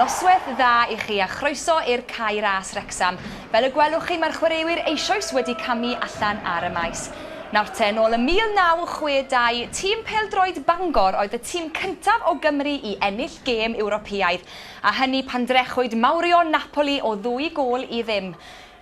Noswaith dda i chi a chroeso i'r Cae Ras Wrecsam. Fel y gwelwch chi mae'r chwaraewyr eisoes wedi camu allan ar y maes. Nawr te, nôl ym 1962, tîm pêl-droed Bangor oedd y tîm cyntaf o Gymru i ennill gêm Ewropeaidd, a hynny pan drechwyd mawrion Napoli o ddwy gôl i ddim.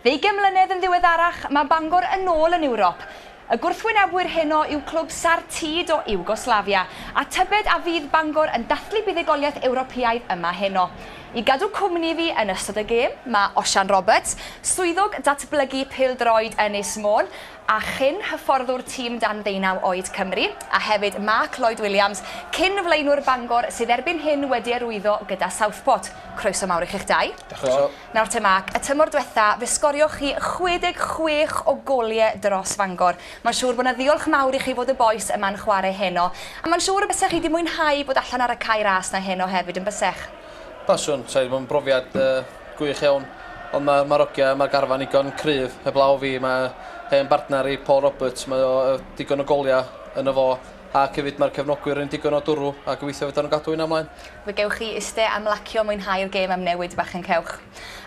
Ddeugain mlynedd yn ddiweddarach, mae Bangor yn ôl yn Ewrop. Y gwrthwynebwyr heno yw clwb Sar Tid o Iwgoslafia, a tybed a fydd Bangor yn dathlu buddugoliaeth Ewropeaidd yma heno? I gadw cwmni i fi yn ystod y gêm, mae Osian Roberts, Swyddog Datblygu Pêl-droed Ynys Môn, a chyn-hyfforddwr tîm dan ddeunaw oed Cymru, a hefyd Mark Lloyd Williams, cyn-flaenwr Bangor sydd erbyn hyn wedi arwyddo gyda Southport. Croeso mawr i chi'ch dau. Croeso. Nawr te Mark, y tymor dwetha, fe sgorioch chi 66 o golie dros Fangor. Mae'n siŵr bod 'na ddiolch mawr i chi fod y bois yma'n chware heno, a mae'n siŵr y bysech chi 'di mwynhau bod allan ar y cae ras 'na heno hefyd, yn bysech? Pasiwn, sa i 'di bod yn brofiad gwych iawn, ond mae Marogia, mae'r garfan igon cryf, heblaw fi, mae hen bartner i Paul Roberts, mae o digon o goliau yn y fo, ac hefyd mae'r cefnogwyr yn digon o dwrw a gobeithio fedran nhw gadw hynna mlaen. Fe gewch chi iste a mlacio mwynhau'r gêm am newid bach yn cewch.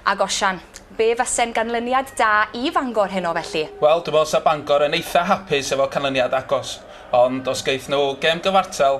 Ag Osian. Be fase'n ganlyniad da i Fangor heno felly? Wel, dwi'n meddwl 'sa Bangor yn eitha hapus efo canlyniad agos, ond os geith nhw gêm gyfartal,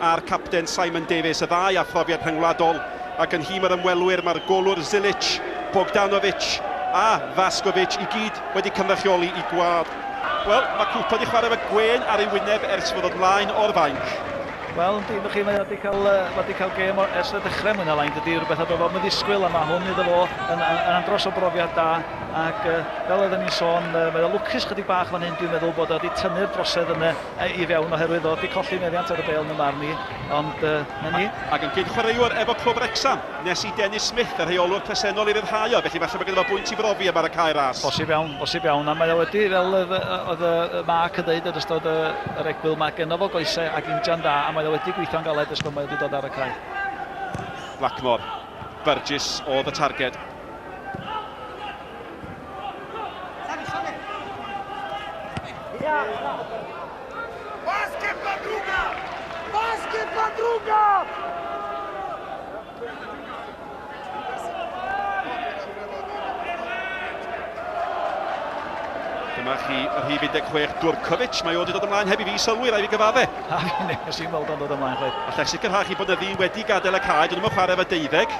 a'r capten Simon Davies, y ddau â phrofiad rhyngwladol, ac yn nhîm yr ymwelwyr mae'r golwr Zilic, Bogdanovic a Vaskovic i gyd wedi cynrychioli i gwlad. Wel, mae Cooper wedi chwarae efo gwên ar ei wyneb ers fod o'n lain o'r fainc. Wel, yndi, dyna chi, mae o wedi cael, uh, wedi cael gêm o ers y dechrau mwy na lai, dydy, rhywbeth oedd o'n ddisgwyl, a mae hwn iddo fo yn, yn, yn andros o brofiad da, ac uh, fel oedden ni'n sôn, uh, mae o lwcus chydig bach fan hyn, dwi'n meddwl bod o wedi tynnu'r drosedd yn y, i fewn oherwydd oedd wedi colli meddiant ar y bel yn y marn i, ond uh, na ni. Ac yn gyn-chwaraewr efo Clwb Wrecsam, nes i Dennis Smith, y rheolwr presennol i ryddhau o, felly falle bod gyda fo bwynt i brofi am ar y cae ras. Bosib iawn, bosib iawn, a mae o wedi, fel oedd y Mark yn dweud yn ystod yr egwyl, mae genno fo goesau ac injan da, a mae o wedi gweithio'n galed ysgol mae wedi dod ar y cae. Blackmore, Burgess oedd y targed. Dyma chi yr hif 16, Durkovic. Mae o wedi dod ymlaen heb i fi sylwi, rai fi gyfadde. A fi nes i'n weld o'n dod ymlaen chwaith. Allech sicrhau chi bod na ddyn wedi gadael y cae, dyn nhw'n chwarae fe deuddeg.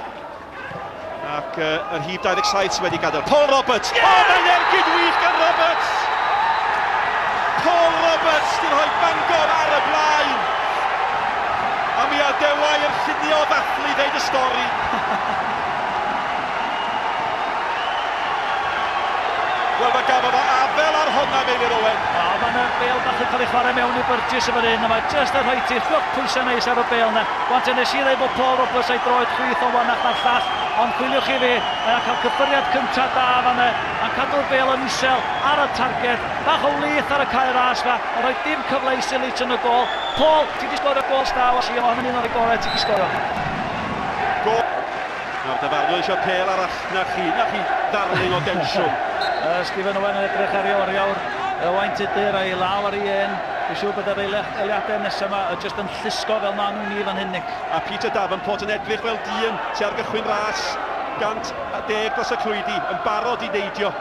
Ac uh, yr hyd 27 sydd wedi gadael. Paul Roberts! Yeah! Oh, mae'n ergyd wych gan Roberts! Paul Roberts sy'n rhoi Bangor ar y blaen! A mi adewai yr llunio ddathlu ddeud y stori. Wel, mae gafodd o afel ar honna, Meilir Owen. O, mae yna bel bach yn cael ei chwarae mewn i byrjus yn fan hyn, a mae just yn rhoi ti llwch pwysau neis ar y bel yna. Wan te nes i ddeud bod Paul Roberts a'i droed chwith o wanach na'r llall, ond chwiliwch chi fi, mae o'n cael cyffyriad cynta da fan 'na, a'n cadw'r bêl yn isel ar y targed, bach o wlith ar y cae ras 'ma, ond rhoi dim cyfle i Silic yn y gôl. Paul, ti 'di sgorio gôl sda o Sion, hynny'n un o rei gorau ti 'di sgorio. Gôl! Nawr dyfarnwr eisiau pêl arall, na chi, na chi ddarling o densiwn. Uh, Stephen Owen yn edrych ar ei oriawr, uh, wain tudur a'i law ar ei hen, dwi'n siŵr bod yr eiliadau nesaf yma uh, just yn llusgo fel maen nhw'n ni fan hyn, Nick. A Peter Davenport yn edrych fel dyn sy ar gychwyn ras 110 dros y clwydi, yn barod i neidio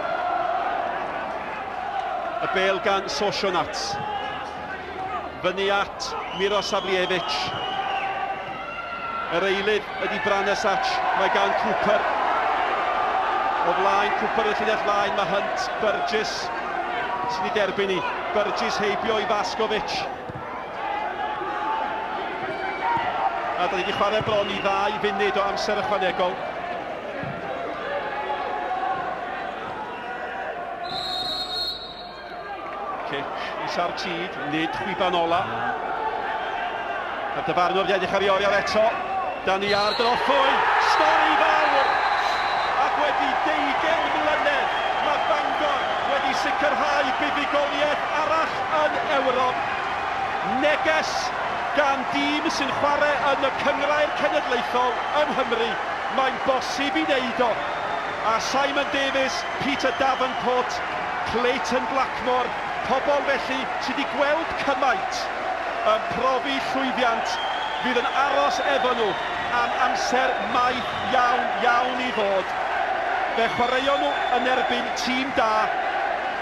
y bel gan Sosho Nats. Fyny at Miro Savljevic. Yr eilydd ydy Branesac, mae gan Cooper. O flaen Cooper yn llinell flaen, mae Hunt, Burgess sy'n ei derbyn i. Burgess heibio i Vaskovic. A da ni wedi chwarae bron i ddau funud o amser ychwanegol. Cic isa'r tîd, nid chwiban ola. A dyfarnwr wedi edrych ar ei oriau eto. Da ni ar drothwy, stori fawr! Ac wedi 20 mlynedd, mae Bangor wedi sicrhau buddugoliaeth arall yn Ewrop. Neges gan dîm sy'n chwarae yn y Cynghrair Cenedlaethol yng Nghymru, mae'n bosib i wneud o. A Simon Davies, Peter Davenport, Clayton Blackmore, pobol felly sy' 'di gweld cymaint yn profi llwyddiant fydd yn aros efo nhw am amser maith iawn, iawn i ddod. Fe chwaraeon nhw yn erbyn tîm da.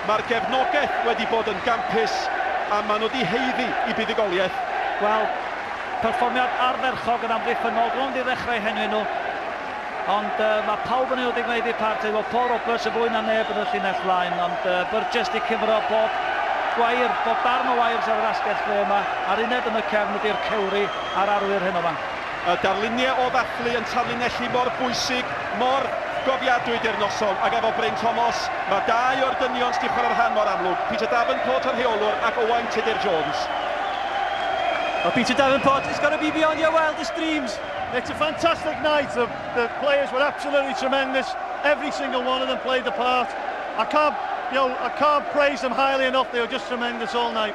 Mae'r gefnogaeth wedi bod yn gampus a maen nhw 'di haeddu i buddugoliaeth. Wel, perfformiad ardderchog yn amddiffynnol rownd i ddechrau henwi nhw, ond yy mae pawb yn unig wneud eu part, efo Paul Roberts yn fwy na neb yn y llinell flaen, ond yy Burgess 'di cymro bob gwair, bob darn o wires ar yr asgell dde yma, a'r uned yn y cefn ydi'r cewri a'r arwyr heno fan. Y darluniau o ddathlu yn tarlinellu mor bwysig, mor gofiadwy di'r noson, ac efo Bryn Tomos, mae dau o'r dynion sydd wedi chwarae'r rhan mor amlwg, Peter Davenport, y rheolwr, ac Owain Tudur Jones. Well, Peter Davenport, it's got to be beyond your wildest dreams. It's a fantastic night. The, the players were absolutely tremendous. Every single one of them played the part. I can't, you know, I can't praise them highly enough. They were just tremendous all night.